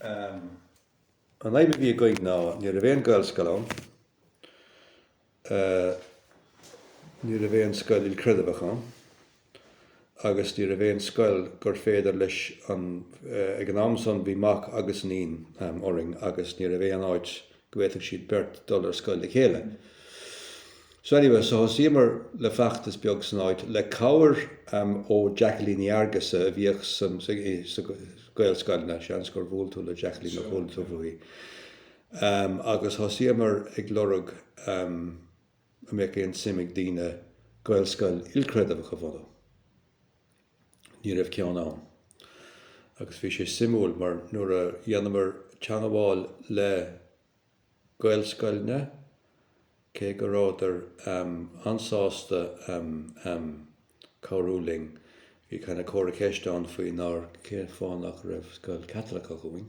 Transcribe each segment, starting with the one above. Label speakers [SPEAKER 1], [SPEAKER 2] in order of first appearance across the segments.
[SPEAKER 1] An fhadhb a bhí againn ná ní raibh aon Ghaelscoil ann, ní raibh aon scoil ilchreidmheach ann agus ní raibh aon scoil gur féidir leis an, ag an am san bhí mac agus iníon againn agus ní raibh aon áit go bhféadfadh siad beirt dul ar scoil le chéile. So anyway, so thosaíomar le feachtas beag san áit, le cabhair ó Jacqueline Ní Fheargusa a bhíodh sna Gaelscoileanna, seans gur bhuail tú le Jacqueline nó chuala tú faoi, agus thosaíomar ag lorg an mbeadh aon suim ag daoine Gaelscoil ilchreidmheach a bhunú. ní raibh ceann ann. Agus bhí sé suimiúil mar nuair a dhéanamar teagmháil le Gaelscoileanna, cé go rabhadar an-sásta cabhrú linn, bhí kinda comhartha ceist ann faoi nár, cén fáth nach raibh scoil Chaitliceach againn.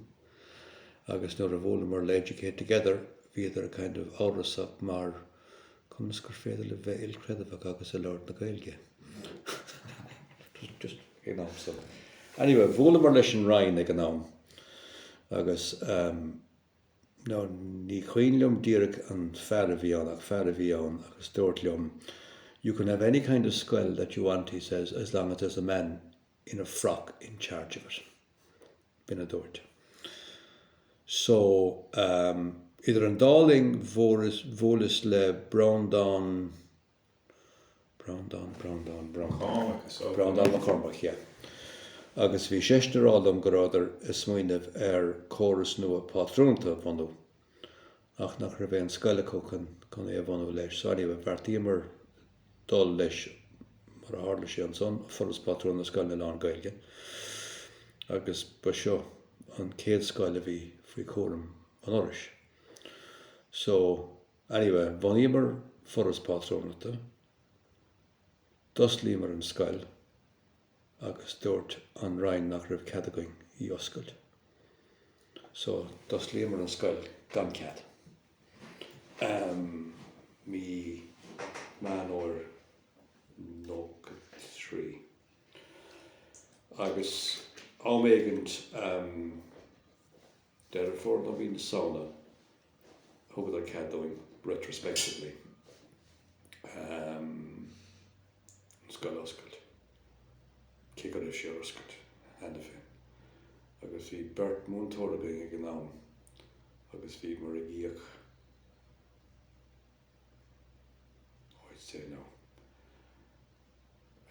[SPEAKER 1] Agus nuair a bhuaileamar le Educate Together, bhíodar kind of amhrasach mar, conas gur féidir le bheith ilchreidmheach agus ar lorg na Gaeilge. Anyway, bhuaileamar leis an Roinn ag an am agus nó ní cuimhin liom díreach an fear a bhí ann ach fear a bhí ann agus dúirt liom, You can have any kind of scoil that you want, he says, as long as there's a man in a frock in charge of it. B'in a dúirt so um idir an dá linn bhuaileas le Breandán, Breandán, Breandán, Breandán Mac Cormaic, yeah, agus bhí seisean ag rá liom go rabhadar ag smaoineamh ar córas nua pátrúnta a bhunú ach nach raibh aon scoil acu chun é a bhunú leis. So anyway, bheartaíomar dul leis mar a tharla sé ansan, Foras Pátrúin na Scoileanna Lán-Ghaeilge, agus ba seo an chéad scoil a bhí faoi chúram an Fhorais. So, anyway, bhunaíomar Foras Pátrúnachta, d'osclaíomar an scoil, agus dúirt an Roinn nach raibh cead againn í oscailt. So, d'osclaíomar an scoil gan cead. Um mí Meán Fhómhair nócha trí. Agus am éigint, um, Deireadh Fómhair nó mhí na Samhna a thugadar cead dúinn retrospectively an scoil a oscailt, cé go raibh sé oscailte cheana féin. Agus bhí beirt múinteoir againn ag an am agus bhíomar ag íoc, oh I'd say now,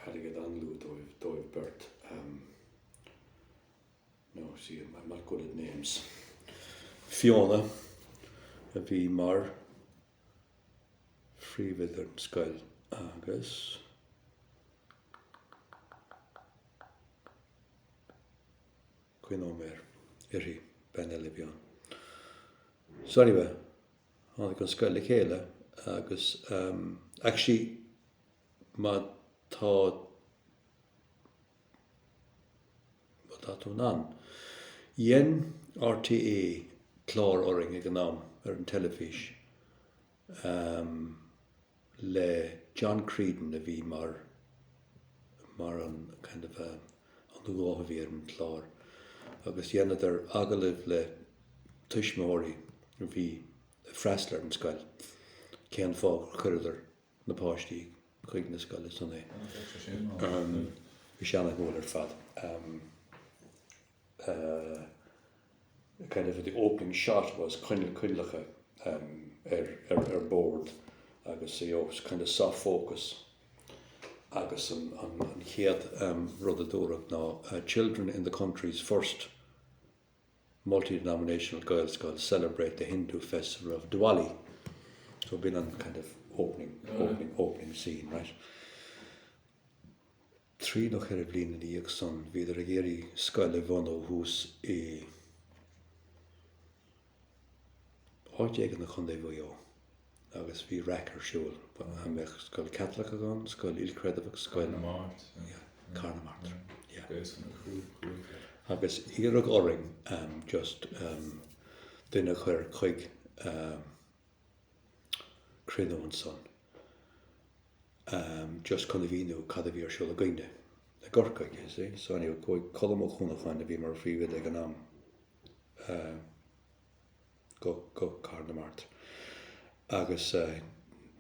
[SPEAKER 1] airgead an-lú dóibh beirt. no see I'm not good at names Fiona a bhí mar phríomhoide ar an scoil agus cén t-ainm a bhí uirthi bean eile a bhí ann. So anyway tháinig an scoil le chéile agus ehm actually má tá Má tá tú in ann. Dhein RTÉ clár orainn ag an am, ar an teilifís, ehm, le John Creedon a bhí mar, mar an kind of a, an guth a bhí ar an chlár. Agus dheineadar agallaimh le tuismitheoirí a bhí ag freastal ar an scoil, cén fáth gur chuireadar. na páistí chuig na scoile san. Bhí sé ana-mhór ar fad. Kind of the opening shot was coinleacha ar bord agus you know kind of soft focus agus an chéad rud a dúradh ná children in the country's first Multi-denominational Gaelscoil celebrate the Hindu festival of Diwali. So b'in an kind of opening scene, right? Trí nó ceithre bliain ina dhiaidh san bhíodar ag iarraidh scoil a bhunú thuas i, áit éigin i gContae Mhaigh Eo. agus bhí raic ar siúl faoi an mbeadh scoil Chaitliceach ann, scoil ilchreidmheach, scoil. Cathair na Mart, yeah. Cathair na Mart, yeah. Gaelscoil na Cruaiche. Agus iarradh orainn just duine a chur chuig cruinniú ansan just chun a mhíniú cad a bhí ar siúl againne i gCorcaigh, you see. So anyway, chuaigh Colm Ó Cuanacháin a bhí mar phríomhoide ag an am. go Cathair na Mart agus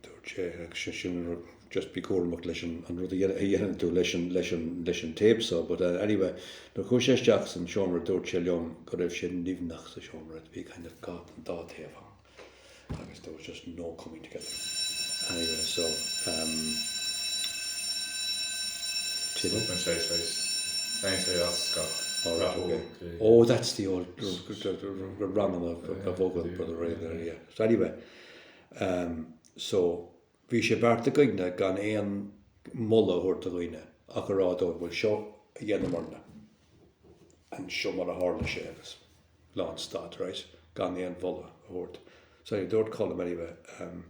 [SPEAKER 1] dúirt sé just bí cúramach leis an rud a dhéanann tú leis an tape so but anyway nuair chuaidh sé isteach san seomra dúirt sé liom go raibh sé nimhneach sa seomra bhí kind of dá thaobh ann agus there was just no coming together anyway so um oh that's the old running of a vocal for the rain there yeah so anyway um so Bhí sé beartaithe againn gan aon mholadh a thabhairt do dhaoine ach a rá dóibh, bhuel, seo a dheineamarna agus seo mar a tharla sé agus lánstad, right? Gan aon mholadh a thabhairt. So anyway, dúirt Colm anyway, em,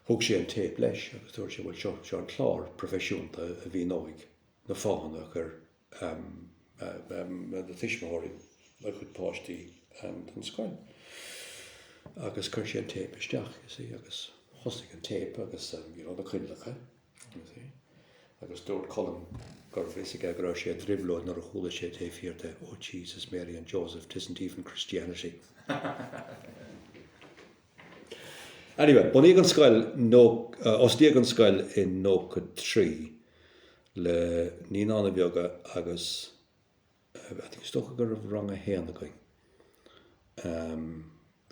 [SPEAKER 1] thug sé an téip leis agus dúirt sé, bhuel, seo, seo an clár proifisiúnta a mhíneoidh na fáthanna a chuir na tuismitheoirí a gcuid páistí don scoil agus chuir sé an téip isteach you see agus thosaigh an téip agus you know na cailleacha you see agus dúirt Colm gurbh fhios aige go raibh sé i dtrioblóid nuair a chuala sé taobh thiar de oh Jesus Mary and Joseph 'tisn't even Christianity. Anyway bunaíodh an scoil, osclaíodh an scoil in 93 le Naíonáin Bheaga agus is dócha go raibh rang a haon againn,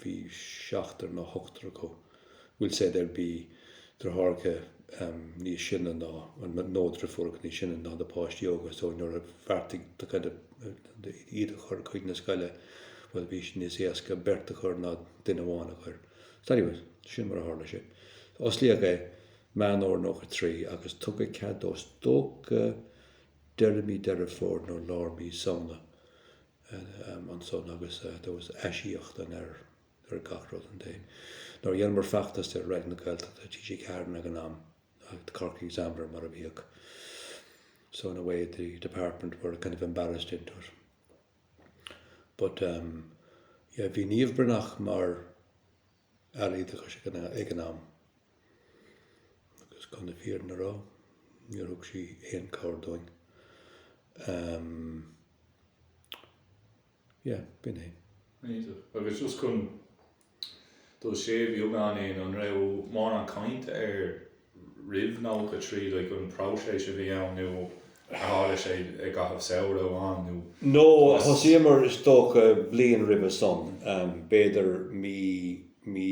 [SPEAKER 1] bhí seachtar nó ochtar acu, we'll say go raibh deartháireacha níos sine ná nó deirfiúracha níos sine ná na páistí óga so nuair a bheartaigh siad kind of iad a chur chuig na scoile bhuel bhí sé níos éasca beirt a chur ná duine amháin a chur. So anyway, sin mar a tharla sé. Osclaíodh é. Meán Fómhair 93 agus tugadh cead do is dócha deireadh mí Deireadh Fómhair nó lár mí Samhna ansan agus there was aisíocaíocht ann ar gach rud and they nuair a dheineamar feachtas ar Raidió na Gaeltachta, TG4 ag an am, The Cork Examiner mar a bhíodh so in a way the department were kind of embarrassed into it but um, yeah, bhí Niamh Bhreathnach mar Aire Oideachais ag an am, agus chun na fírinne a rá, níor thug sí aon chabhair dúinn. Um, yeah, b'in é. Agus just
[SPEAKER 2] chun dul siar beagán an raibh mórán cainte ar roimh 93 like an próiseas a bhí ann nó ar tharla sé i gcaitheamh samhradh amháin nó No, agus. thosaíomar
[SPEAKER 1] is dócha bliain roimhe san, b'fhéidir mí, mí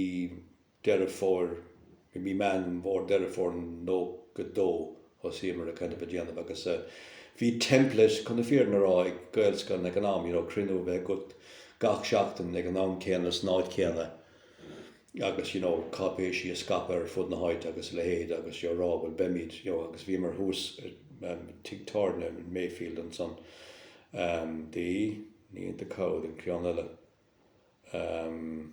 [SPEAKER 1] Deireadh Fómhair, mí, mí Meán Fómhair, Deireadh Fómhair 92 thosaíomar a kind of á dhéanamh agus eh bhí template chun na fírinne a rá ag Gaelscoileanna ag an am, you know cruinniú a bheith agat gach seachtain ag an am céanna san áit céanna. agus you know cáipéisí a scaipeadh ar fud na háite agus a leithéid agus you know rá bhuel beimid you know agus bhíomar thuas i tigh tábhairne in Mayfield ansan ehm the ní the Cow an ceann eile ehm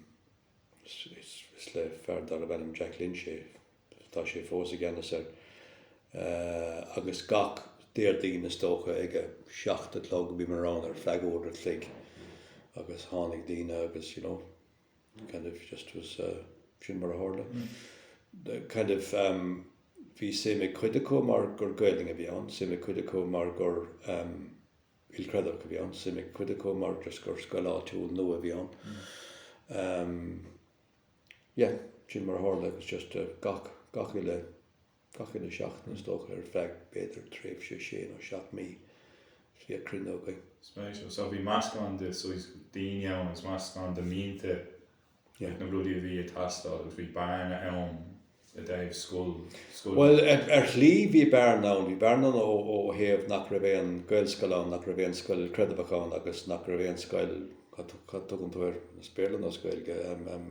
[SPEAKER 1] is is le fear darbh ainm Jack Lynch é tá sé fós i gceannas air eh agus gach Déardaoin is dócha ag a seacht a chlog bhíomar ann ar feadh uair a chloig agus tháinig daoine agus you know kind of just is sin mar a tharla. kind of um bhí suim ag cuid acu mar gur Gaelainn a bhí ann, suim ag cuid acu mar gur um ilchreidmheach a bhí ann, suim ag cuid acu mar just gur scoil áitiúil nua a bhí ann. Um yeah, sin mar a tharla, it was just a gach, gach uile. gach uile sheachtain, is dócha, ar feadh b'fhéidir tréimhse sé nó seacht mí, is bhíodh cruinnithe againn. Spéisiúil. So
[SPEAKER 2] bhí meascán de saghas daoine ann agus meascán de mhianta, na rudaí a bhí ag teastáil agus bhí bearna ann i dtaobh scoil, scoil. Bhuel,
[SPEAKER 1] ar, ar shlí bhí bearna ann, bhí bearna ann ó, ó thaobh nach raibh aon Gaelscoil ann, nach raibh aon scoil chreidmheach ann agus nach raibh aon scoil, cad, cad a thugann tú air as Béarla nó as Gaeilge, em, em,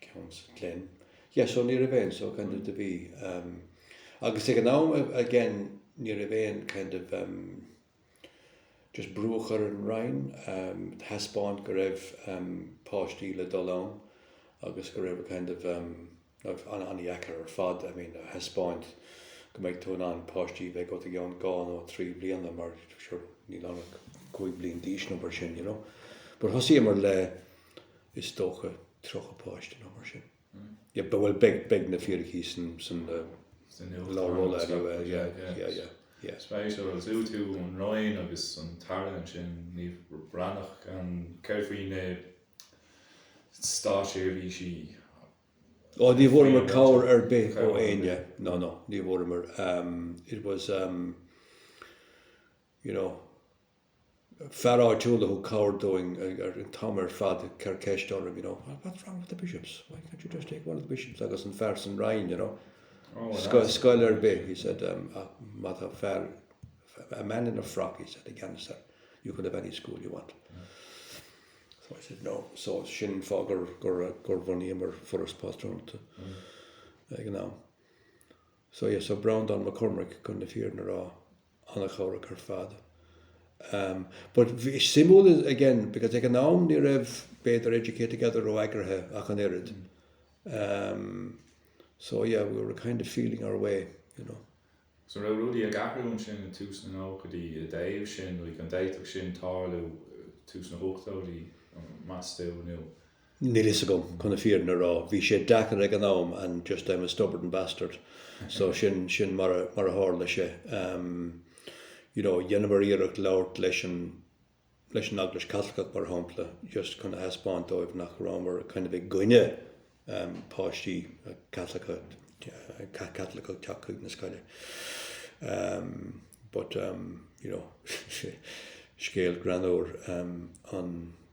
[SPEAKER 1] Council Glen. Yes so ní raibh aon so kind of, bhí ehm agus ag an am again ní raibh aon kind of ehm just brú a chur ar an Roinn ehm a thaispeáint go raibh ehm páistí le dul ann agus go raibh a kind of ehm raibh an-dheacair ar fad I mean a thaispeáint go mbeidh tú in ann páistí bheith ag oitigh ann dhá nó trí bliana mar sure níl ann ach cúig bliain d'aois nó mar sin you know. But thosaíomar le is dócha, 30 páiste, nó mar sin. Yeah, but well, beidh, beidh na fíricí san, san na, sa leabhar rolla anyway, yeah, yeah, yeah, yeah. Spéisiúil agus
[SPEAKER 2] fiú an Roinn agus an tAire ansin, Niamh Bhreathnach, an, céard faoi na státseirbhísí?
[SPEAKER 1] Oh, ní bhfuaireamar cabhair ar bith ó éinne, no, no, ní bhfuaireamar, um, it was, um, you know, fear áitiúil a thug cabhair dúinn an t-am ar fad ag cur ceist orm you know what's what's wrong with the bishops? why can't you just take one of the bishops? agus an fear san Roinn you know scoil scoil ar bith he said um ach má tá fear a man in a frock he said i gceannas air you can have any school you want so I said no so sin fáth gur gur gur bhunaíomar Foras Pátrúnachta ag an am so yeah so Breandán Mac Cormaic chun na fírinne a rá ana chabhrach ar fad. Umm but suimiúil is again because ag an am ní raibh b'fhéidir Educate Together ró-eagraithe ach an oiread. Umm so yeah we were kind of feeling our way, you know. So an raibh
[SPEAKER 2] rudaí ag athrú ansin i tús na nóchaidí i dtaobh sin like an d'fhéadfadh sin tarlú tús na hochtóidí, meas tú, nó. níl fhios
[SPEAKER 1] agam chun na fírinne a rá, bhí sé deacair ag an am and just I'm a stubborn bastard so sin sin mar mar a tharla sé ehm you know dheineamar iarracht labhairt leis an leis an Eaglais Chaitliceach mar shampla just chun a thaispeáint dóibh nach rabhamar kind of i gcoinne ehm páistí Caitliceacha Caitliceacha teacht chuig na scoile ehm but ehm you know scéal greannmhar ehm an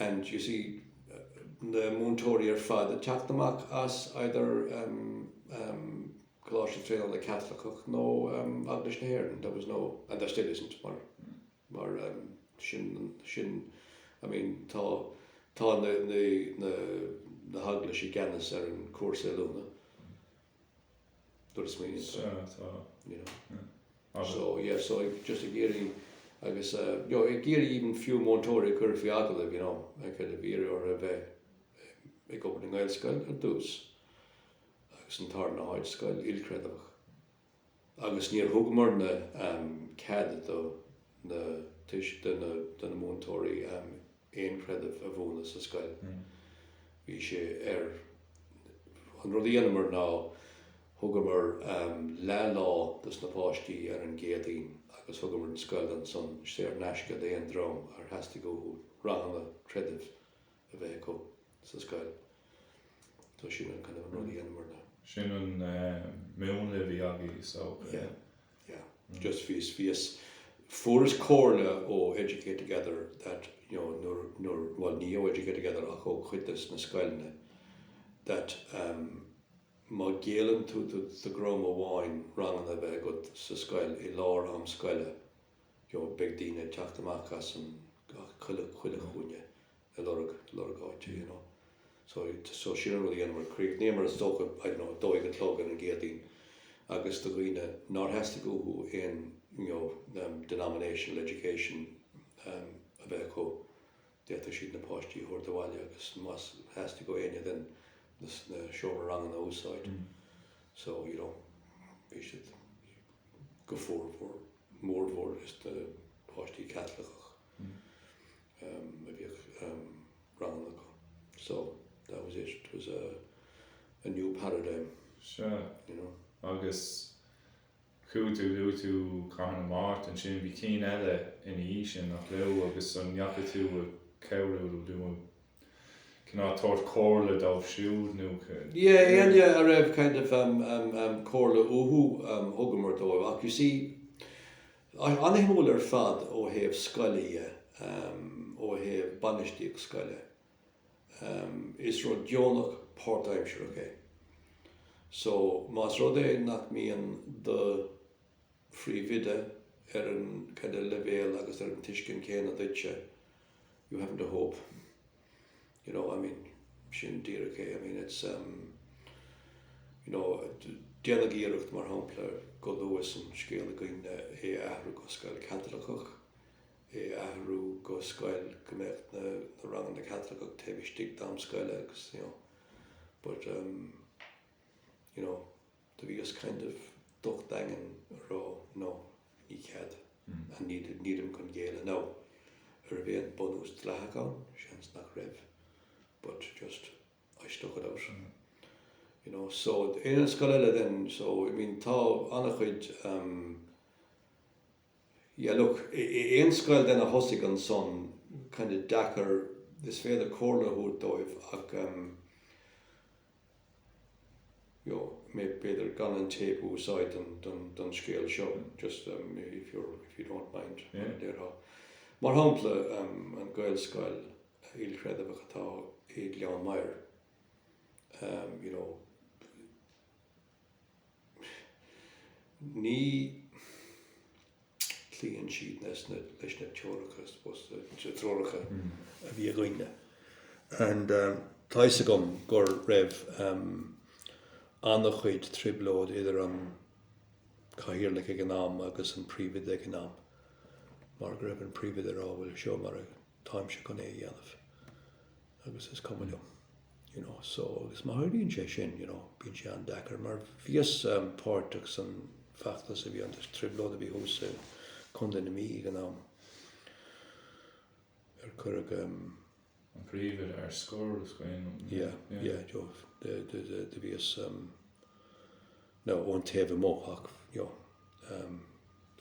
[SPEAKER 1] and you see na múinteoirí ar fad ag teacht amach as either Coláiste Traenála Caitliceach nó Eaglais na hÉireann, there was no, and there still isn't, mar mar sin sin I mean tá tá na na na heaglaisí i gceannas ar an cúrsa oiliúna. Dul i smaoinín tú. Sea, tá. You know. Yeah. So, yeah, so ag, just ag iarraidh, agus, uh, you know, ag iarraidh even fiú múinteoirí a cuireadh faoi agallamh, you know, kind of ag iarraidh orthu a bheith ag obair i nGaelscoil ar dtús, agus an tarna háit scoil ilchreidmheach. Agus níor thugamar na, um, cead do na tuis, do na múinteoirí, um, aon chreideamh a mhúineadh sa scoil. Bhí sé ar An rud a dhéanamar ná thugamar leath-lá dos na páistí ar an gCéadaoin agus thugamar an scoil ansan saor in aisce d'aon dream ar theastaigh uathu ranganna creidimh a bheith acu sa scoil. So sin an kind of an rud a dhéanamar leis. Sin an
[SPEAKER 2] múnla a bhí agaibh is dócha. Yeah.
[SPEAKER 1] yeah just bhíos bhíos fuaireas comhairle ó Educate Together that you know nuair nuair bhuel ní ó Educate Together ach ó chuid de na scoileanna that um má ghéilleann tú do do dhream amháin ranganna a bheith agat sa scoil i lár am scoile you know beidh daoine ag teacht amach as an as chuile chuile chúinne a lorg, lorg áite, you know. So, so sin an rud a dhéanamar, críochnaíomar is dócha, I don't know, dó a chlog ar an gCéadaoin agus do dhaoine nár theastaigh uathu aon, you know, um, denominational education, um, a bheith acu, d'fhéadfadh siad na páistí a thabhairt abhaile agus más theastaigh ó éinne den, na seomraí ranganna a úsáid, so, you know, bhí siad go formhór, mórmhór is na páistí Caitliceach. a bhíodh ranganna acu. So, that was it, it was a new paradigm, Sea. you
[SPEAKER 2] know.
[SPEAKER 1] Agus
[SPEAKER 2] chuaigh tú, luaigh tú Cathair na Mart ansin, bhí cinn eile ina dhiaidh sin, nach raibh, agus an ndeachaigh tú ag cabhrú leo, nó cineál ag tabhairt comhairle dóibh siúd nó ca, Yeah, éinne
[SPEAKER 1] a raibh kind of comhairle uathu, thugamar dóibh ach you see, tá sé an-shuimiúil ar fad ó thaobh scoile dhe, ó thaobh bainistíocht scoile. Is rud deonach páirtaimsearach é. So, más rud é nach mbíonn do phríomhoide ar an kind of leibhéal agus ar an tuiscint chéanna duitse, you haven't a hope. you know, I mean, sin díreach é, I mean, it's, um, you know, déanadh iarracht, mar shampla, go luath san scéal againne é a athrú go scoil Chaitliceach, é a athrú go scoil go mbeadh na, na ranganna Caitliceach taobh istigh d'am scoile agus, you know, but, um, you know, Do bhíos kind of docht daingean a rá no, ní cead, and nílim chun géilleadh. Now, a' raibh aon bunús dleathach ann? Seans nach raibh, but just, I stuck it out, you know. So, aon scoil eile then, so, I mean, tá an-chuid, um. yeah look aon scoil then a thosaigh ansan kind of deacair is féidir comhairle a thabhairt dóibh ach em you know b'fhéidir gan an téip a úsáid don don don scéal seo just em if you're if you don't mind yeah. mar
[SPEAKER 2] déarfá
[SPEAKER 1] mar shampla em an Gaelscoil ilchreidmheach atá i Gleann Maghair em you know Ní chloíonn siad leis na teoracha, I suppose, na treoracha a bhí againne. And tá a fhios agam go raibh an-chuid trioblóid idir an Cathaoirleach ag an am agus an Príomhoide ag an am, mar go raibh an Príomhoide a rá, 'Bhuel, seo mar a táimse chun é a dhéanamh. agus is cuma liom, you know, so agus má tharlaíonn sé sin, you know, bíonn sé an-deacair mar bhíos páirteach san feachtas a bhí ann, an trioblóid a bhí thuas i Contae na Mí ag an am ar cuireadh
[SPEAKER 2] ehm. an príomhoide ar scor, is cuimhin liom. Yeah,
[SPEAKER 1] yeah, do bhíos ehm. nó ón taobh amuigh ach you know um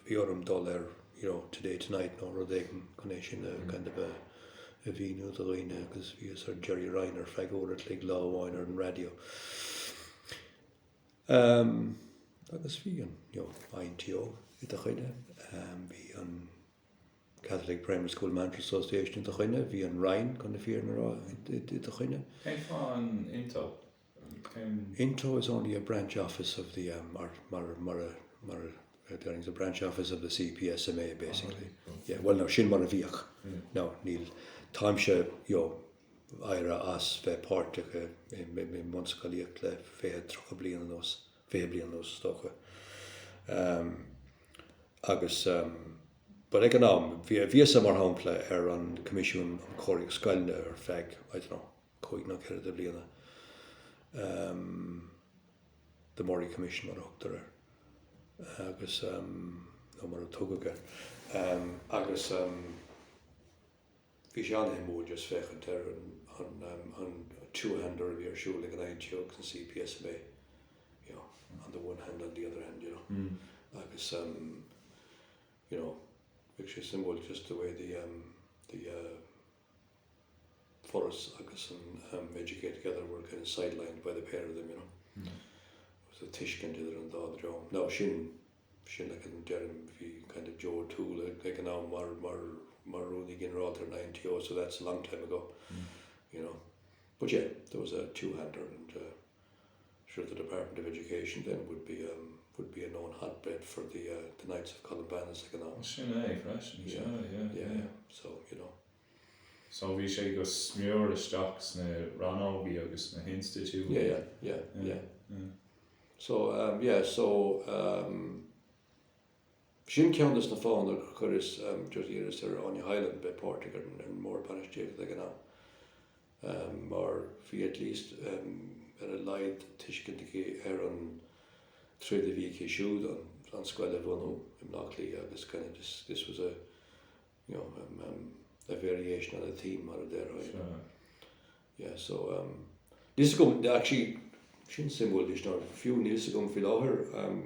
[SPEAKER 1] bhí orm dul ar you know Today Tonight nó rud éigin chun é sin a kind of a a mhíniú do dhaoine agus bhíos ar Gerry Ryan ar feadh uair a chloig lá amháin ar an raidió um agus bhí an you know INTO i do choinne um bhí an Catholic Primary School Managers Association i do choinne bhí an Roinn chun na fírinne a rá i do choinne. Cén fáth an
[SPEAKER 2] INTO?
[SPEAKER 1] INTO is only a branch office of the CPSMA basically. Yeah, bhuel now sin mar a bhíodh. Now níl, táimse, you know, éirithe as bheith páirteach i mbunscolaíocht le fiche, tríocha bliain anuas, fiche bliain anuas is dócha. Agus, but ag an am, bhíos-sa mar shampla ar an Coimisiún um Chóiríocht Scoileanna ar feadh, I don't know, cúig nó ceithre de bhliana, The Murray Commission mar a thugtar air agus, nó mar a tugadh air, agus bhí sé an-shuimiúil just féachaint ar an two-hander a bhí ar siúl ag an INTO agus an CPSMA, you know, on the one hand on the other hand, you know, agus, you know, bhí sé suimiúil just the way the, the, Foras agus an Educate Together were kind of sidelined by the pair of them, you know. It was a tuiscint idir an dá dhream. Now sin, sin like an deirim, bhí kind of Joe O'Toole ag ag an am mar mar mar Rúnaí Ginearálta ar na NTO, so that's a long time ago, you know. But yeah, there was a two-hander and eh, Sure the Department of Education then would be a would be a known hotbed for the eh the Knights of Columbanus ag an am. Sin é freisin, seo,
[SPEAKER 2] yeah, yeah, yeah, yeah.
[SPEAKER 1] So, you know. So bhí
[SPEAKER 2] sé go smior isteach sna rannógaí agus sna hinstitiúidí. Yeah, yeah, yeah, yeah.
[SPEAKER 1] So, um, yeah, so, um. B'shin ceann de na fáthanna gur chuireas, just iarras ar Áine Hyland bheith páirteach ar an mBord Bainistíochta ag an am, mar bhí at least ar a laghad tuiscint aici ar an troid a bhí aici siúd an scoil a bhunú i mBleá Cliath agus kind of this was a you know a variation on a theme mar a déarfá you
[SPEAKER 2] know yeah
[SPEAKER 1] so um, níl a fhios agam actually sin suimiúil anois ná fiú níl a fhios agam fé láthair um,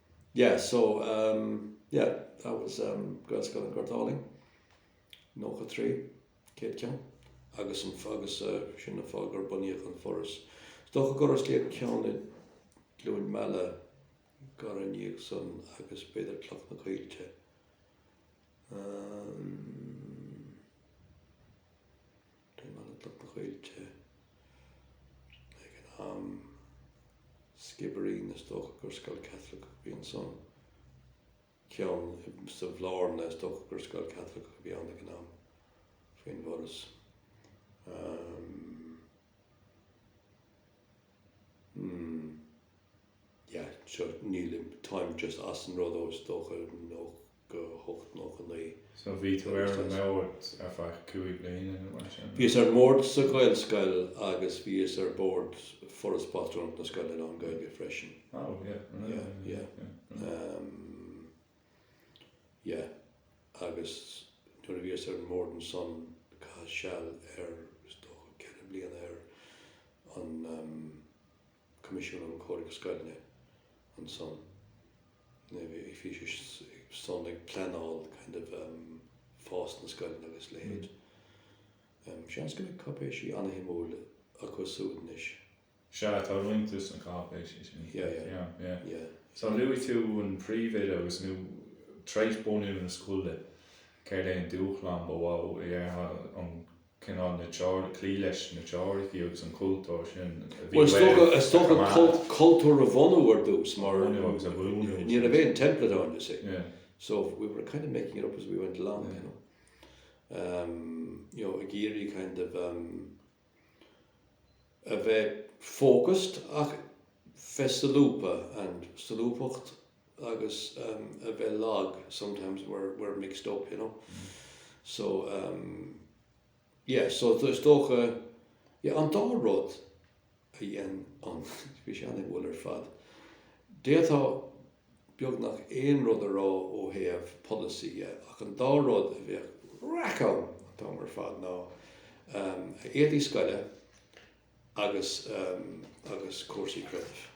[SPEAKER 1] yeah so um yeah that was um Gaelscoil an Ghoirt Álainn nócha trí céad ceann agus an agus uh, sin an fáth gur bunaíodh an Foras. Is dócha gur osclaíodh ceann i gCluain Meala gairid ina dhiaidh san agus b'fhéidir Cloch na gCoillte. Um, Cluain Meala, Cloch na gCoillte ag an am, Skibbereen, is dócha gur scoil Chaitliceach a bhí ansan, ceann sa Bhlarna, is dócha gur scoil Chaitliceach a bhí ann ag an am, faoin bhForas, hmm, yeah, sure, nílim, táim just as an rud ó, is dócha, hocht, nócha naoi. So bhí tú ar
[SPEAKER 2] an mbord ar feadh cúig bliana nó mar sin? Bhíos ar an mbord
[SPEAKER 1] sa Ghaelscoil agus bhíos ar bhord Foras Pátrúnachta na Scoileanna Lán-Ghaeilge freisin. Oh yeah, yeah, yeah, yeah. Yeah, agus nuair a bhíos ar an mbord ansan caitheas seal ar is dócha ceithre bliana ar an um, Coimisiún um Chóiríocht Scoileanna ansan, bhí san ag pleanáil kind of fás na scoileanna agus leithéid. Seans go mbeidh cáipéisí an-shuimiúil acu súd anois. Sea,
[SPEAKER 2] tá roinnt de sna cáipéisí sin. Yeah, yeah. Yeah,
[SPEAKER 1] yeah. Yeah. So
[SPEAKER 2] luaigh tú an príomhoide agus nó tar éis bunú na scoile. Céard é an dúshlán ba mhó a déarfá an cineál na, cloí leis na teoiricí agus an cultúr sin a bhí uaibh a choimeád. Bhuel,
[SPEAKER 1] is dócha cultúr a bhunú ar dtús mar ní raibh aon template ann, you see, so
[SPEAKER 2] we were
[SPEAKER 1] kind of making it up as we went along, you know, you know, ag iarraidh kind of, a bheith focused ach bheith solúbtha and solúbthacht agus a bheith lag sometimes were were mixed up you know so um yeah so is dócha yeah an dá rud a dhein an bhí sé an-éagsúil ar fad d'fhéadfadh beagnach aon rud a rá ó thaobh polasaí dhe, ach an dá rud a bhíodh raic ann an t-am ar fad ná éadaí scoile agus agus cúrsaí creidimh.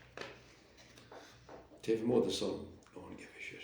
[SPEAKER 1] Taobh amuigh de san, no one gave a shit.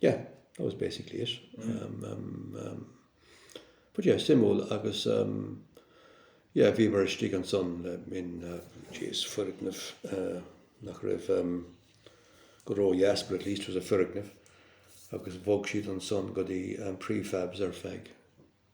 [SPEAKER 1] Yeah, that was basically it. Um, um, um, but yeah, suimiúil agus, um, yeah, bhíomar istigh ansan um, in, uh, jeez, foirgneamh, uh, nach raibh, um, go ródheas, but at least it was a foirgneamh, agus bhog siad ansan go dtí, um, prefabs ar feadh.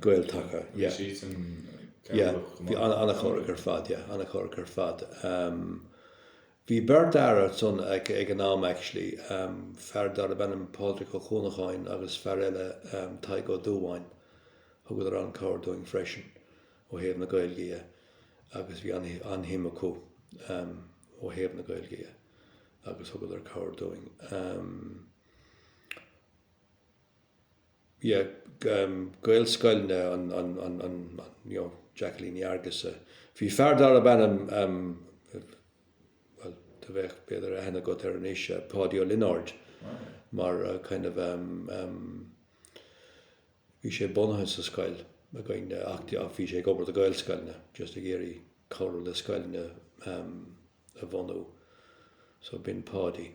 [SPEAKER 1] Gael-Taca. Bhí ana-chabhrach ar fad, yeah, ana-chabhrach ar fad. Bhí beirt fhear ansan ag an am actually, fear darb ainm Pádraig Ó Cuanacháin agus fear eile Tadhg Ó Dúbháin. Thugadar an-chabhair dúinn freisin ó thaobh na Gaeilge dhe agus bhí an-shuim acu ó thaobh na Gaeilge dhe agus thugadar cabhair dúinn. Gaelscoileanna Jacqueline Ní Fhearghusa Bhí fear darb ainm, bhuel, do bheadh, b'fhéidir, aithne agat air anois, Páidí Ó Lionáird, mar kind of, bhí sé bunaithe sa scoil againn ach bhí sé ag obair do Gaelscoileanna, just ag iarraidh cabhrú le scoileanna a bhunú. So b'in Páidí.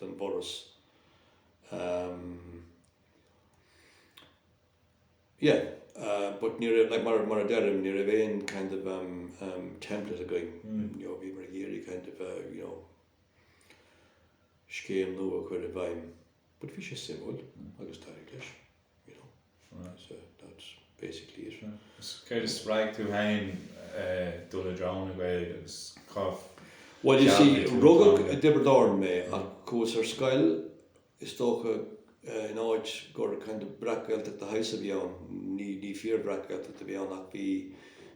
[SPEAKER 1] den bhForas. Yeah, but ní raibh, like, mar a deirim, ní raibh aon kind of template againn, you know, bhíomar ag iarraidh kind of, you know, scéim nua a chur i bhfeidhm. But bhí sé suimiúil agus d'éirigh leis, you know. Right, so that's basically it. So, céard a spreag
[SPEAKER 2] tú féin dul i dtreo na Gaeilge agus cá dtearn tú an teanga? Well,
[SPEAKER 1] you see, rugadh i dTiobraid Árann mé ach chuas ar scoil, is dócha, in áit gur kind of breac-Ghaeltacht de shaghas a bhí ann, ní, ní fíor-bhreac-Ghaeltacht a bhí ann ach bhí,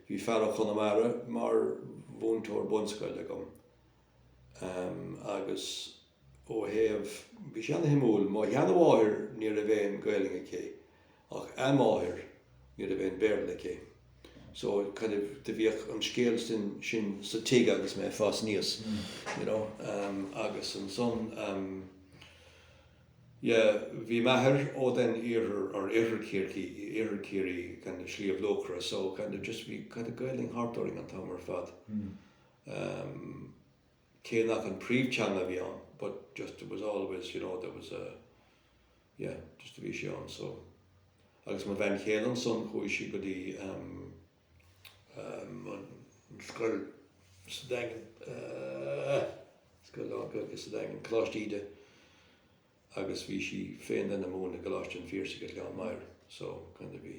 [SPEAKER 1] bhí fear ó Chonamara mar mhúinteoir bunscoile agam, em, agus. ó thaobh, bhí sé an-shuimiúil, mo sheanamháthair ní raibh aon Gaeilge aici ach a máthair ní raibh aon Béarla aici so kind of do bhíodh an scéal sin sin sa tig agus mé a' fás aníos you know ehm agus ansan ehm yeah bhí m'athair ó den iarthar or oirthear Chiarraí oirthear Chiarraí kind of Sliabh Luachra so kind of just bhí kind of Gaeilge thart orainn an t-am ar fad ehm. cé nach an príomhtheanga a bhí ann but just it was always you know there was a yeah just a bhí sé ann so agus mo bhean chéile ansan chuaigh sí go dtí um, um, an scoil sa daingean uh, scoil an go sa daingean Coláiste Íde agus bhí sí féin den a múineadh i g Coláiste an Phiarsaigh le an mair so chun a bhí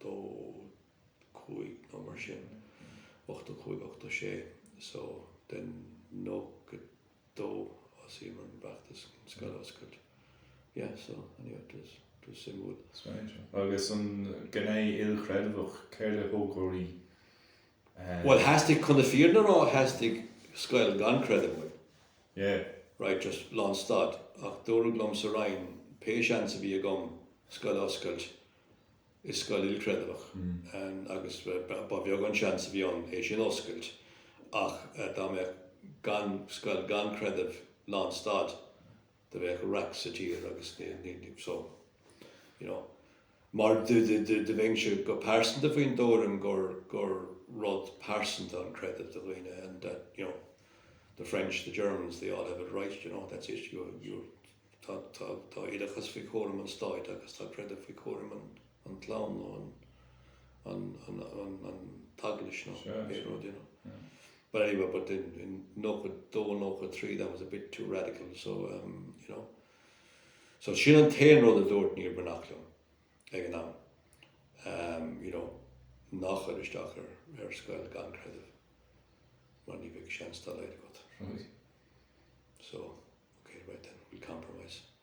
[SPEAKER 1] 85 nó mar sin, 85, 86 so den 92 thosnaíomar an feachtas an scoil a oscailt. Yeah so anyway it was, it was suimiúil. Agus an
[SPEAKER 2] gné ilchreidmheach, céard a thug oraibh
[SPEAKER 1] Bhuel, theastaigh, chun na fírinne a rá, theastaigh scoil gan creideamh uaim.
[SPEAKER 2] Yeah. Right, just
[SPEAKER 1] lán stad. Ach dúradh liom sa Roinn, pé seans a bhí agam scoil a oscailt is scoil ilchreidmheach, agus ba bheag an seans a bhí ann é sin a oscailt, ach dá mbeadh gan, scoil gan creideamh lán stad, do bheadh raic sa tír agus so you know mar do bhínse go pearsanta faoin dtuairim gur gur rud pearsanta an creideamh do dhaoine and that you know the French, the Germans, they all have it right, you know, that's it, you you tá tá tá oideachas faoi chúram an stáit agus tá creideamh faoi chúram an an clann nó an t-eaglais nó aon rud, you know. But anyway, but in 92 and 93 that was a bit too radical, so, um, you know. So sin an t-aon rud a dúirt Niamh Bhreathnach liom ag an am, um, you know, ná chuir isteach ar scoil gan creideamh mar ní bheadh seans dá laghad agat. Right. So, ok, right then, we'll compromise.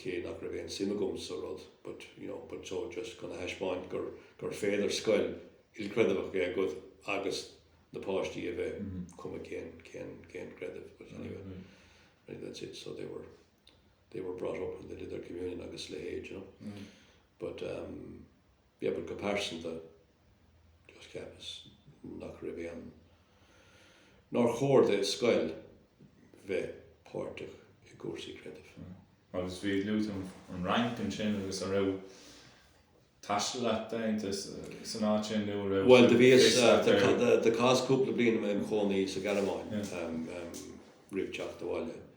[SPEAKER 1] cé nach raibh aon suim agam sa rud, but, you know, but so just chun a thaispeáint gur gur féidir scoil ilchreidmheach a bheith agat agus na páistí a bheith cuma cén cén cén creideamh, but anyway, anyway that's it, so they were they were brought up and they did their communion agus a leithéid, do you know. But, um. But go pearsanta, just cheapas nach raibh aon, nár chóir do scoil bheith páirteach i gcúrsaí creidimh. Agus bhí
[SPEAKER 2] luaite agat an Fhrainc ansin agus an raibh taisteal agat déanta san áit sin nó an raibh Bhuel, do bhíos, fios agat
[SPEAKER 1] ar do, do, do chaitheas cúpla bliain im chónaí sa Ghearmáin roimh teacht abhaile.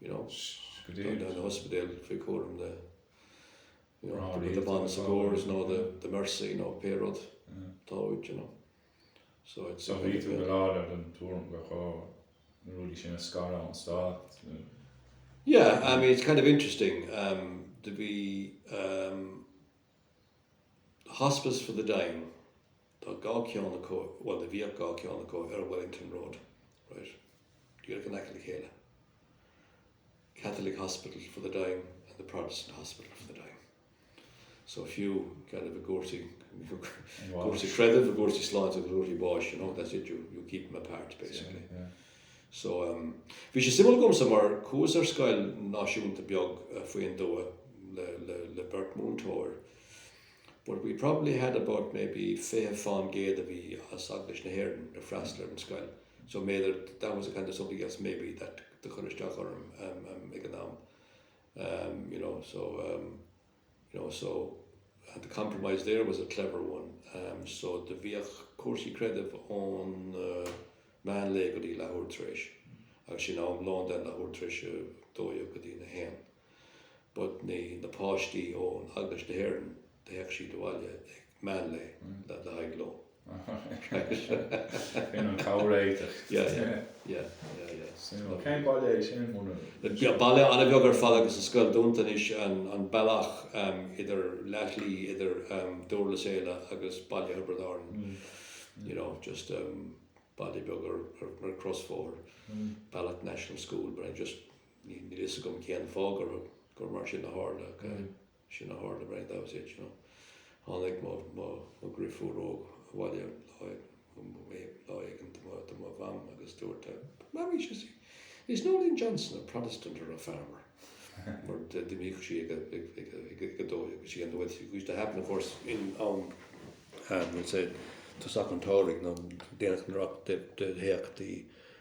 [SPEAKER 1] you know, tá na hospidéil faoi chúram na you know, the, the Bon Secours nó the, the Mercy nó pé rud atá uait, you know. So, it's, so bhí tú go láidir
[SPEAKER 2] den tuairim gur ghá na rudaí sin a scaradh ón
[SPEAKER 1] stát. Yeah, I mean, it's kind of interesting. Um, to be um, The Hospice for the Dying Tá dhá cheann acu, bhuel, do bhíodh dhá cheann acu ar Wellington Road, right, díreach in aice le chéile, Catholic Hospital for the Dying and the Protestant Hospital for the Dying. So fiú, kind of, i gcúrsaí, cúrsaí creidimh, i gcúrsaí sláinte agus i gcúrsaí báis, you know, that's it, you keep them apart, basically. So, bhí sé suimiúil dhomsa mar chuas ar scoil náisiúnta beag faoin dtuath le beirt múinteoir but we probably had about maybe fiche fán gcéad a bhí as Eaglais na hÉireann ag freastal ar an scoil so b'fhéidir that was a kind of something else maybe that do chuir isteach orm ag an am you know so. you know, so the compromise there was a clever one, ehm, so do bhíodh cúrsaí creidimh ón meán lae go dtí leathuair tar éis, agus ansin am lóin den leathuair tar éis a dó dhéag go dtína haon, but na, na páistí ón Eaglais na hÉireann, do théadh siad abhaile ag meán lae le haghaidh lóin.
[SPEAKER 2] Sin an comhréiteach. Yeah,
[SPEAKER 1] yeah,
[SPEAKER 2] yeah, yeah, yeah. Suimiúil. Cén baile é sin, Monuar? Baile
[SPEAKER 1] an-bheag ar fad agus an scoil dúnta anois, An Bealach idir leathshlí idir Dúrlas Éile agus Baile Thiobraid Árann, you know, just baile beag ar chrosbhóthar, Ballagh National School, but I just, níl a fhios agam cén fáth gur mar sin a tharla. Sin a tharla, right, that was it, you know. Tháinig mo, mo, mo dhriofúr óg abhaile lá, lá éigin do mo, do mo Mham agus dúirt, uh, Mammy, she said, is Noeleen Johnson a Protestant or a farmer? Mar d'imíodh sí ag, ag, ag, ag, ag, ag dó, agus sí an bhfuil sí, which used to happen, of course, in am, um, we'll say, tosach an tsamhraidh, nó déanach san earrach do, do théadh,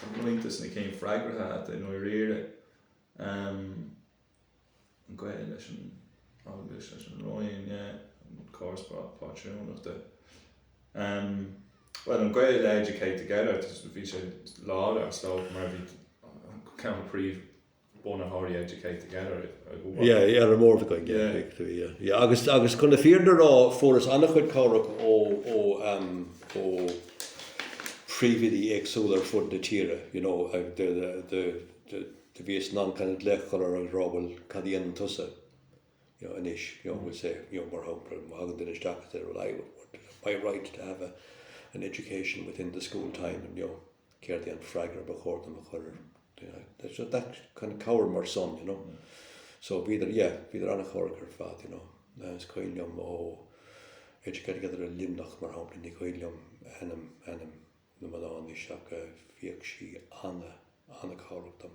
[SPEAKER 2] Tá roinnt des na cinn freagraithe agat i ndáiríre, an gaol leis an Eaglais, leis an Roinn, an córas pátrúnachta, bhuel, an gaol le Educate Together, bhí sé láidir is dócha mar bhí ceann de phríomh, bhunaitheoirí Educate Together. Yeah, yeah, ar
[SPEAKER 1] an mbord againn, yeah, big to be, yeah, yeah. Agus, agus chun na fírinne a rá, fuaireas an-chuid cabhrach ó, ó, ehm, ó phríomhoidí éagsúla ar fud na tíre, you know, ag do, do, do, do bhíos in ann kind of glaoch a chur orthu agus a rá, 'Bhuel, cad a dhéanann tusa? anois, we'll say, mar shampla, má thagann duine isteach is deir, well, I want my right to have an education within the school time, céard é an freagra ba chóir dom a thabhairt air? It's that kind of cabhair mar sin, you know. So bhíodar, yeah, bhíodar an-chabhrach ar fad, you know. Is cuimhin liom ó Educate Together i Luimneach, mar shampla, ní cuimhin liom ainm, ainm, na mná anois ach bhíodh sí ana, ana-chabhrach dom.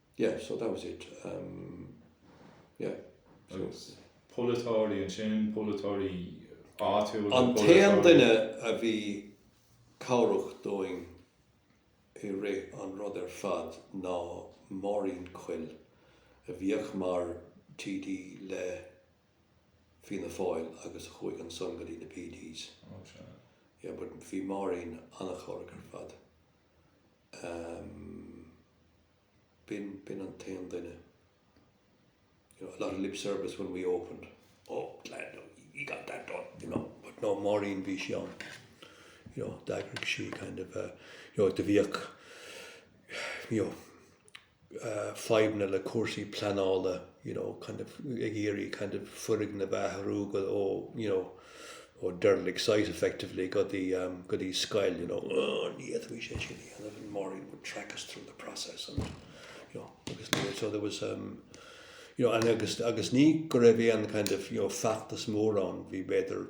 [SPEAKER 1] yeah so that was it um yeah agus
[SPEAKER 2] polaiteoirí ansin polaiteoirí áitiúla an t-aon
[SPEAKER 1] duine a bhí cabhrach dúinn i rith an rud ar fad ná Máirín Quill a bhíodh mar TD le Fianna Fáil agus a chuaigh ansan go dtí na PDs
[SPEAKER 2] oh sure yeah but bhí
[SPEAKER 1] Máirín an-chabhrach ar fad. B'in an t-aon duine, you know, a lot of lip service when we opened, oh glad now we got that done, you know, but no, Máirín, bhí sí ann, you know, d'eagraigh sí kind of, you know, do bhíodh, you know, fadhbanna le cúrsaí pleanála, you know, kind of ag iarraidh kind of foirgneamh a athrú go, ó, you know, ó derelict site effectively go dtí, go dtí scoil, you know, oh, ní fhéadfaí é sin a dhéanamh and Máirín would track us through the process and, you know, agus níl, so there was, you know, and agus, agus ní go raibh aon kind of, you know, feachtas mór ann, bhí b'fhéidir,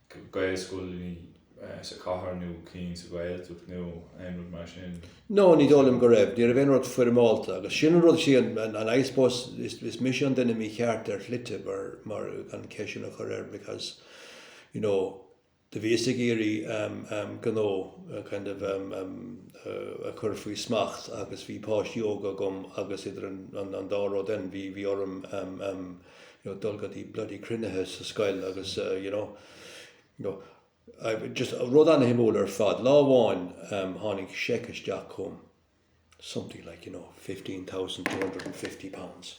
[SPEAKER 2] Gaelscoil sa chathair nó ceann sa Ghaeltacht nó aon rud mar sin? No, ní dóigh liom
[SPEAKER 1] go raibh. Ní raibh aon rud foirmeálta agus sin an rud, is é an, I suppose, is mise an duine mícheart ar shlite maran ceist sin a chur air because, you know, do bhíos ag iarraidh gnó kind of a chur faoi smacht agus bhí páistí óga agam agus idir an dá rud then bhí orm know, dul go dtí bloody cruinnithe sa scoil agus eh, you know, you know, I, just rud an-shuimiúil ar fad. Lá amháin um, tháinig seic isteach chugham, something like, you know, £15,250.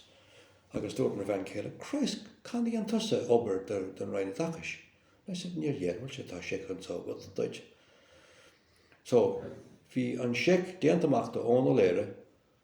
[SPEAKER 1] Agus dúirt mo bhean chéile, Christ, cén obair a dhein tusa don Roinn Oideachais? I said, níor dhein, well, tá seic anso agam duit. So, bhí an seic déanta amach do Eoin Ó Laoghaire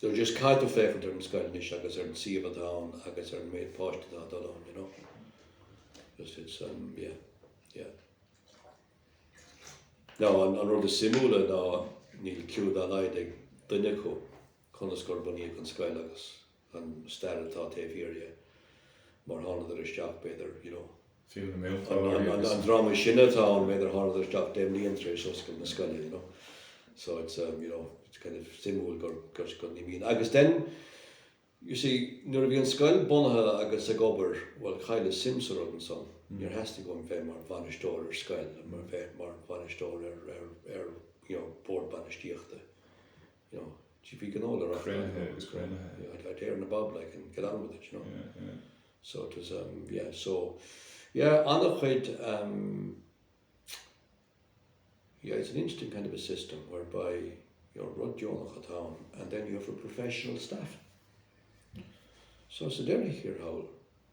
[SPEAKER 1] They're just caithfidh tú féachaint ar an scoil anois agus ar an suíomh atá ann agus ar an méid páistí atá ag dul ann, you know. Just it's um yeah, yeah. Now an an rud is suimiúla ná níl clue dá laghad ag duine acu conas gur bunaíodh an scoil agus an stair atá taobh thiar dhe, mar thánadar isteach b'fhéidir, you know. fiú na
[SPEAKER 2] múinteoirí, an dream is
[SPEAKER 1] sine atá ann, b'fhéidir, a tháinig isteach deich mbliain tar éis oscailt na scoile, you know. So it's, um, you know, it's kind of suimiúil gur, gur, gur ní bhíonn. Agus then, you see, nuair a bhí an scoil bunaithe agus ag obair, well, chailleas suim sa rud ansan. Níor theastaigh uaim bheith mar bhainisteoir ar scoil, nó bheith mar bhainisteoir ar, ar, ar, you know, bord bainistíochta. you know, GP Gnó le Rath Greamaithe Gnó. agus Greamaithe. You know, I, I dare na bob like and get on with it, you know. Yeah, yeah. So
[SPEAKER 2] it was,
[SPEAKER 1] um, yeah, so, yeah, anna chuid, um, yeah, it's an interesting kind of a system whereby you're rud deonach atá ann and then you have a professional staff. So sa deireadh thiar thall,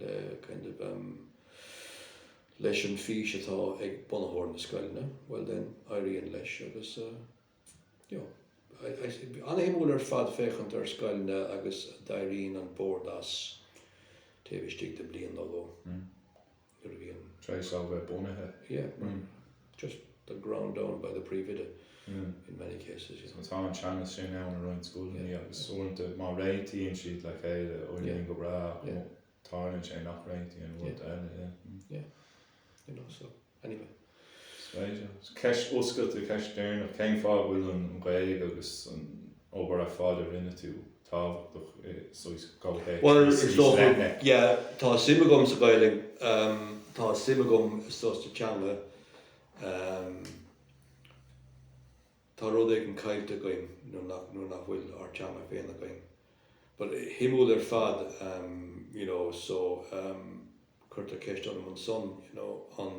[SPEAKER 1] le kind of em leis an fís atá ag bunaitheoir na scoileanna, bhuel then, éiríonn leis agus eh you know I I an-shuimiúil ar fad féachaint ar scoileanna agus éiríonn an bord as taobh istigh de bliain nó dhó nuair a bhíonn,
[SPEAKER 2] try is over bunaithe. yeah,
[SPEAKER 1] Just the ground down by the príomhoide in many cases, yeah. So tá an
[SPEAKER 2] teannas sin ann i roinnt scoileanna agus uaireanta má réitíonn siad le chéile éiríonn go breá ach má tarlaíonn sé nach réitíonn uaireanta eile, yeah.
[SPEAKER 1] Yeah, you know, so anyway. Is féidir.
[SPEAKER 2] Is ceist oscailte, ceist deireanach, cén fáth a bhfuil an Ghaeilge agus an obair ar fad a rinne tú tábhachtach i gcomhthéacs níos
[SPEAKER 1] leithne. yeah tá suim agam sa Ghaeilge em tá suim agam is dócha sa teanga em tá rud éigin caillte againn nuair nach nuair nach bhfuil ár teanga féin againn but shuimiúil ar fad em you know so em cuirtear ceist orm ansan you know an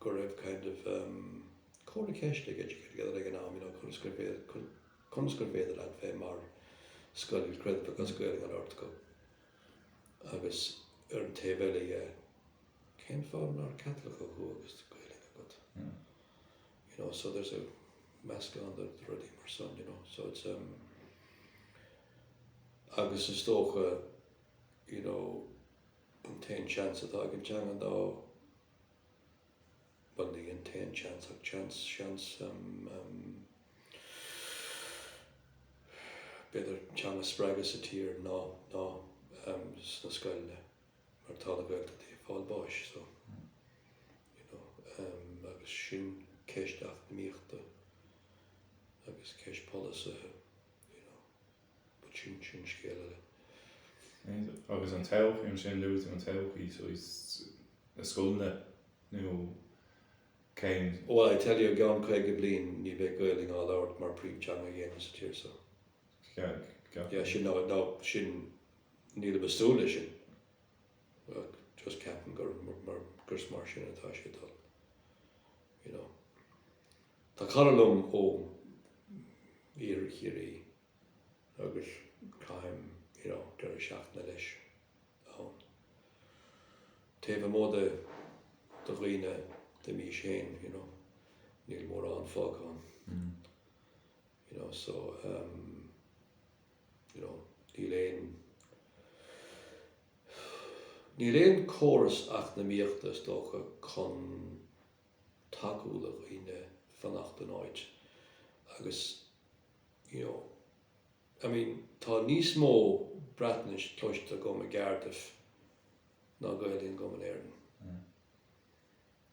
[SPEAKER 1] go raibh kind of cora ceist ag Educate Together ag an am, you know, conas gur féidir, conas gur féidir leat bheith mar scoil creidimh agus Gaeilge ann ar do scoil agus ar an taobh eile dhe, cén fáth nár Caitliceach thú agus Gaeilge agat? You know, so there's a meascán de rudaí mar san, you know, so it's um, agus is dócha, you know, an t-aon seans atá ag an teanga ná bhuel, ní an t-aon tseans ach an seans, b'fhéidir, teanga a spreagadh sa tír ná sna scoileanna mar tá na Gaeltachtaí ag fáil bháis. So, you know, agus sin ceist eacnamaíochta agus ceist polasaithe, you know. Sin scéal
[SPEAKER 2] eile. Agus an todhchaí, ansin luaigh tú an todhchaí, so is iad na scoileanna nó cén. Bhuel, I tell you, i
[SPEAKER 1] gceann caoga bliain ní bheidh Gaolainn á labhairt mar príomhtheanga ag éinne sa tír so. Yeah, sin, ná sin, nílim ag súil leis sin ach just ceapaim gur mar sin atá sé ag dul, you know. Tá cara liom ó Iarthar Chiarraí agus caithim you know deireadh seachtaine leis ann. Taobh amuigh de de dhaoine de m'aois féin you know níl mórán fágtha ann you know so ehm you know níl aon níl aon córas eacnamaíochta is dócha chun tacú le dhaoine fanacht in áit agus you know I mean tá níos mó Breatnaise cloiste agam i gCardiff ná Gaoluinn agam in Éirinn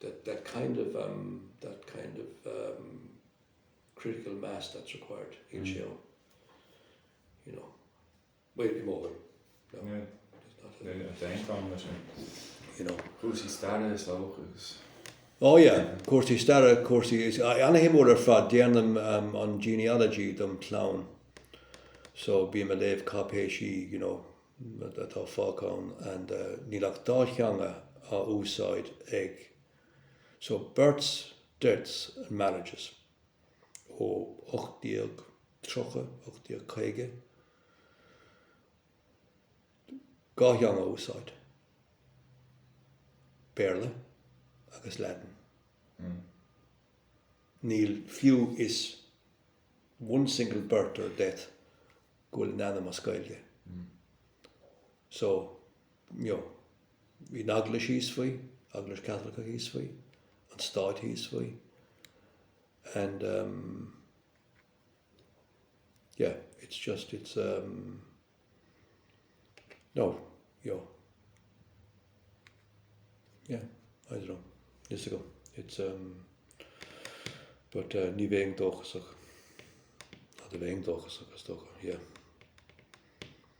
[SPEAKER 1] that that kind of em that kind of em critical mass that's required anseo you know. Bail go mór. No. Yeah.
[SPEAKER 2] There's not a. There's not a problem with it.
[SPEAKER 1] You know. Cúrsaí staire is dócha agus. Oh yeah. Cúrsaí staire, cúrsaí, an-shuimiúil ar fad. Déanaim an genealogy dom clann. So bím ag léamh cáipéisí, you know, atá fágtha and níl ach dá theanga á úsáid ag, so births, deaths and marriages. Ó 1830, 1850 dhá theanga á úsáid, Béarla agus Laidin. Níl fiú is one single birth or death go bhfuil an ainm as Gaeilge. So. You know, bhí an Eaglais thíos faoi, Eaglais Chaitliceach thíos faoi, an Stát thíos faoi and um yeah, it's just, it's um no, you know. Yeah, I don't know, níl a fhios agam, it's um but uh ní bheinn dóchasach, nó do bheinn dóchasach is dócha, yeah.